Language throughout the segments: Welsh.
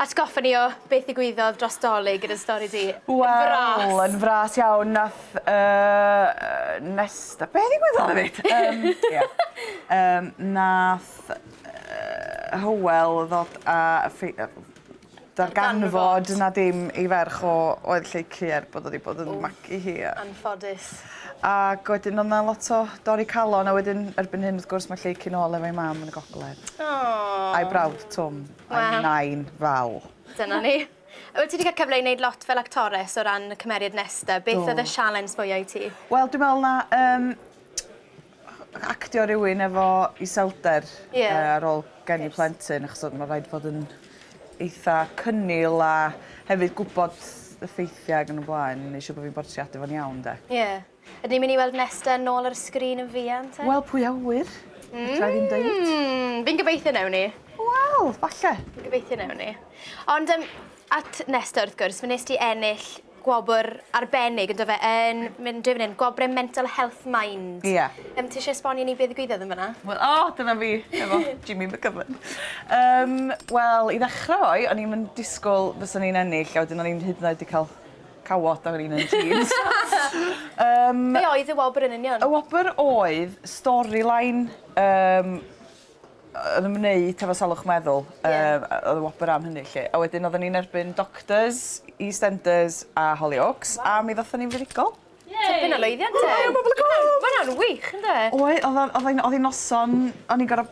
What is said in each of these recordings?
Atgoffa ni o beth ddigwyddodd dros Dolig yn y stori di. Wel... Yn fras. Wel yn fras iawn nath yy Nesta... Be' ddigwyddodd efyd? Yym ia. Yym nath yy Hywel ddod a ffei- yy darganfod... Darganfod. ...na dim ei ferch o oedd Lleucu er bod o 'di bod yn magu hi a... Anffodus. Ag wedyn o' 'na lot o dorri calon a wedyn erbyn hyn wrth gwrs ma' Lleucu'n ôl efo'i mam yn y gogledd. O! A'i brawd Twm. Waw. I'm nine Waw. Dyna ni. Wyt ti 'di cael cyfle i neud lot fel actores o ran y cymeriad Nesta? Do. Beth oedd y sialens mwya i ti? Wel dwi me'wl na yym actio rywun efo iselder... Ie. ...yy ar ôl geni plentyn achos odd ma' raid fod yn eitha cynnil a hefyd gwbod y ffeithie ag yn y blaen neu siŵr bo' fi'n bortreadu fo'n iawn 'de? Ie. Ydyn ni'n mynd i weld Nesta yn ôl ar y sgrin yn fuan te? Wel, pwy a ŵyr? Fedra i ddim deud. Mm, fi'n gobeithio newn ni. Wel, falle. Fi'n gobeithio newn ni. Ond um, at Nesta wrth gwrs, fe nes ti ennill gwobr arbennig yn dyfe yn mynd drwy fan gwobre Mental Health Mind. Ie. Yeah. Um, ti eisiau esbonio ni beth ddigwyddodd yn fyna? Wel, o, oh, dyna fi, efo Jimmy McGovern. Um, Wel, i ddechrau fo, o'n i'n disgwyl fyswn i'n ennill, a wedyn o'n i'n hyd yn oed wedi cael Cawod oedd un yn jeans. Yym... Be oedd y wobr yn union? Y wobr oedd storyline yym yn ymwneud hefo salwch meddwl. Ie. Yym yy oedd y wobr am hynny 'lly. A wedyn oedden ni'n erbyn Doctors, Eastenders a Hollyoaks a mi ddothon ni'n fuddugol. Yay! Tipyn o lwyddiant 'te? Helo Pobol y Cwm! Ma' wnna'n wych ynde? Oedd, oedd o'n oedd hi'n oedd hi'n noson o'n i'n gor'o'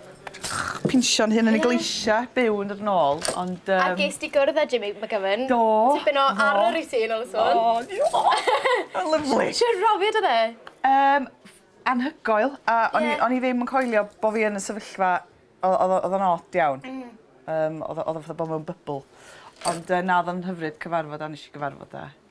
pinsio'n hun yn y gleisia, byw yn dod yn ôl, ond yym... A ges di gwrdd â Jimmy McGovern? Do! Tipyn o arwr i ti yn ôl y sôn. O diolch! Ma'n lyfli! Shwd brofiad odd e? Yym anhygoel a o'n i o'n i ddim yn coelio bo' fi yn y sefyllfa o- o'dd o o'dd o'n od iawn. Hmm. Yym o'dd o o'dd o fatha bo' mewn bybl. Ond yy na o'dd o'n hyfryd cyfarfod a nesh i gyfarfod â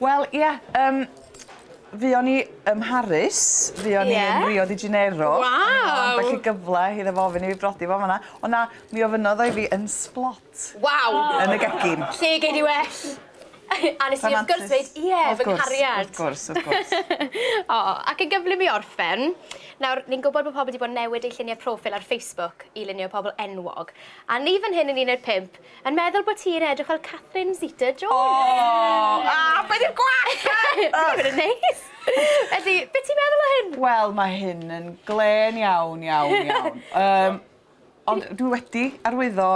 Wel, ie, yym, fuon ni ym Mharis, fuon ni yn Rio de Janeiro. Waw! Felly gyfle iddo fo ofyn i fi brodi fo fanna. O na, mi ofynnodd o i fi yn Sblot. Waw! Yn y gegin. Lle gei di well? A nes i wrth gwrs dweud ie, fy nghariad. Wrth gwrs, wrth gwrs, wrth gwrs. O, ac yn gyflym i orffen, nawr, ni'n gwybod bod pobl wedi bod yn newid eu lluniau proffil ar Facebook i lunio pobl enwog, a ni fan hyn yn un o'r pump, Yn meddwl bo ti'n edrych fel Catherine Zeta Jones! O! O! Be 'di'r gwallt 'ma? Ych! Dim yn neis! Felly, be ti'n meddwl o hyn? Wel, ma' hyn yn glên iawn, iawn, iawn. Yym, ond dwi wedi arwyddo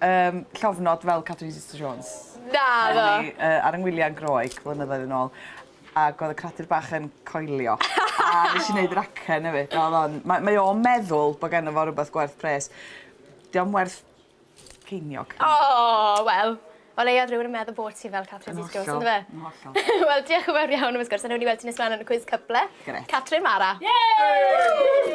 yym llofnod fel Catherine Zeta Jones. Naddo! O'n i yy ar 'y ngwylia yn Groeg flynyddoedd yn ôl ag o'dd y cradur bach yn coelio a nesh i neud yr acen efyd a o'dd o'n... Mae mae o'n meddwl bo' genno fo rwbeth gwerth pres. 'Di o'm werth Ceiniog. O! Wel, o leia odd rywun yn meddwl bod ti fel Catrin Zeta Jones on'd yfe? Yn hollol, yn hollol. Wel, diolch yn fawr iawn am y sgwrs a newn ni weld ti nes mlan yn y cwis cyfle. Grêt. Catrin Mara. Yay!